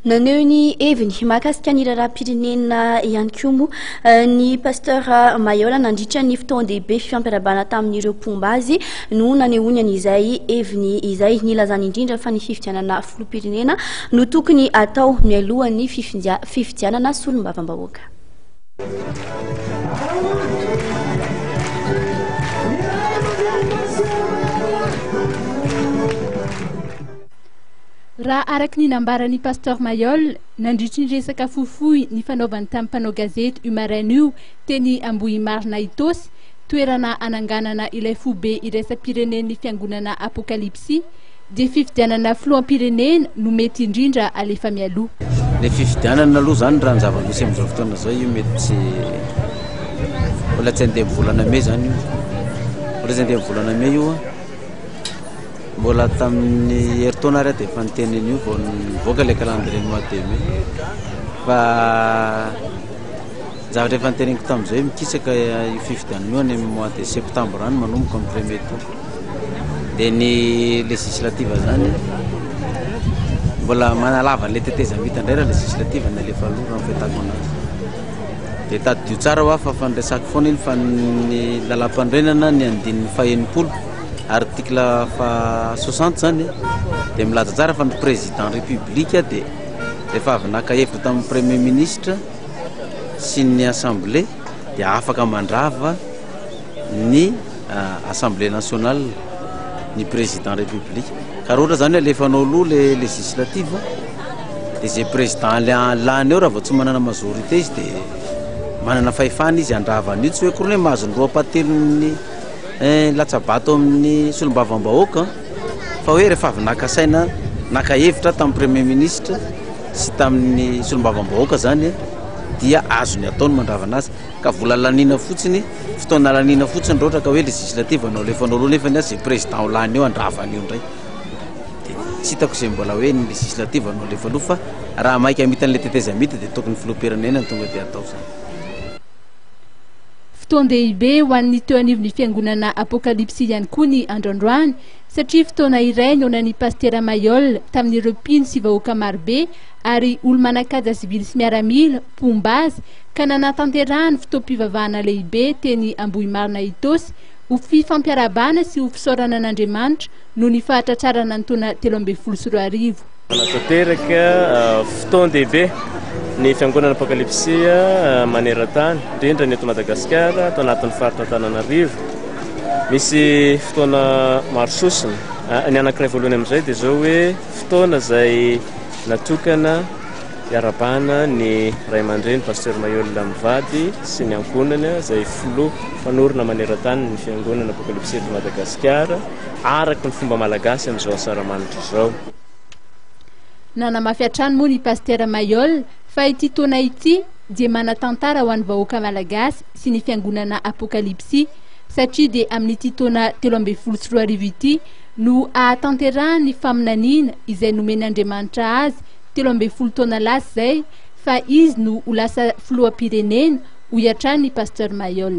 Naneho ny heviny mahakasika ny raharaham-pirenena ihany koa moa eh, ny Pasteur Mayola nandritra ny fotoan-dehibe fifampiarabana tamin'ireo mpomba azy no nanehoany an'izay heviny izay nilazany indrindra fa ny fifidianana filoham-pirenena no tokony atao mialohan'ny fifidianana solombavambahoaka. Raha araka ny nambaran'i Pasteur Mayol, nandritry ny resaka fohifohy nifanaovany tamin'ny mpanao gazety io maraina io teny Ambohimarina Itaosy, toerana hananganana ilay foibe iraisam-pirenen'ny fiangonana Apokalipsy, dia fifidianana filoham-pirenena no mety indrindra alefa mialoha. Ilay fifidianana aloha izany raha ny zava-misy amin'izao fotoana izao io mety tsy mbola tsy handeha amin'ny volana mey izany io. Mbola tsy handeha amin'ny volana mey io. Mbola tamin'ny herintaona ary aho dia efa niteny an'io vao nivoaka ilay calendrier mois de mai fa zavatra efa niteneniko tamin'izay mikisaka io fifidianana io any amin'ny mois de septembre any manomboka amin'ny premier tour dia ny législative zany mbola manalava an'ilay tetezamita indray raha législative ny alefa aloha raha mifetako anazy dia tadidio tsara ho aho fa fandraisako foana iny fa ny lalam-panorenana ny andininy fahenipolo Article faha soixante zany dia milaza tsara fa ny président république dia rehefa avy naka hevitra tamin'ny premier ministre sy ny assemblée dia afaka mandrava ny euh, assemblée nationale ny président république ka roatra zany alefanao aloha le législative dia zay président lany eo raha vao tsy manana majorité izy dia manana fahefana izy handravana io tsy hoe koa hoe mahazo ny roa patelin'ny Eh, latsabato amin'ny solombavambahoaka fa hoe rehefa avy naka saina, naka hevitra tamin'ny Premier Ministre sy tamin'ny solombavambahoaka izany dia azony atao ny mandravana azy ka vola laniana fotsiny, fotoana laniana fotsiny raha ohatra ka hoe législative no alefanao aloha nefany izay Président ho lany eo handrava an'io indray. Dia tsy hitako izay mbola hoe ny législative no alefa aloha fa raha maika hamita an'ilay tetezamita dia tokony ny Filoham-pirenena no tonga dia atao izany. Fotoan-dehibe ho an'ny teo anivon'ny Fiangonana Apokalypsy ihany koa ny andro androany satria fotoana iray nohonan'ny Pasitera Mayol tamin'ireo mpino sy vahoaka marobe ary olo-manan-kaja sivily sy miaramila mpomba azy ka nanatanterahany fotoam-pivavahana lehibe teny Ambohimarina Itaosy ho fifampiarahabana sy ho fisaorana an'Andriamanitra noho ny fahatratrarana ny taona telo ambin'ny folo sy roa arivo. Manatanteraka fotoan-dehibe ny Fiangonana Apokalipsia maneran-tany, indrindra ny eto Madagasikara, ato anatin'ny faritra Antananarivo. Misy fotoana maro sosona. Ah, ny anankiray voalohany amin'izay dia izao hoe fotoana izay natokana hiarabana ny ray aman-dreny Pasteur Mayola mivady sy ny ankohonany izay filoha mpanorina maneran-tany ny Fiangonana Apokalipsia eto Madagasikara, araka ny fomba malagasy amin'izao Asaramanitra izao. Nanamafy hatrany moa ny Pasitera Mailhol fa ity taona ity dia manan-tantara ho an'ny vahoaka malagasy sy ny fiangonana Apokalipsy satria dia amin'ity taona telo ambin'ny folo sy roa arivo ity no hahatanterahan'ny faminaniana izay nomen'Andriamanitra azy telo ambin'ny folo taona lasa izay fa izy no ho lasa filoham-pirenena, hoy hatrany ny Pasteur Mailhol.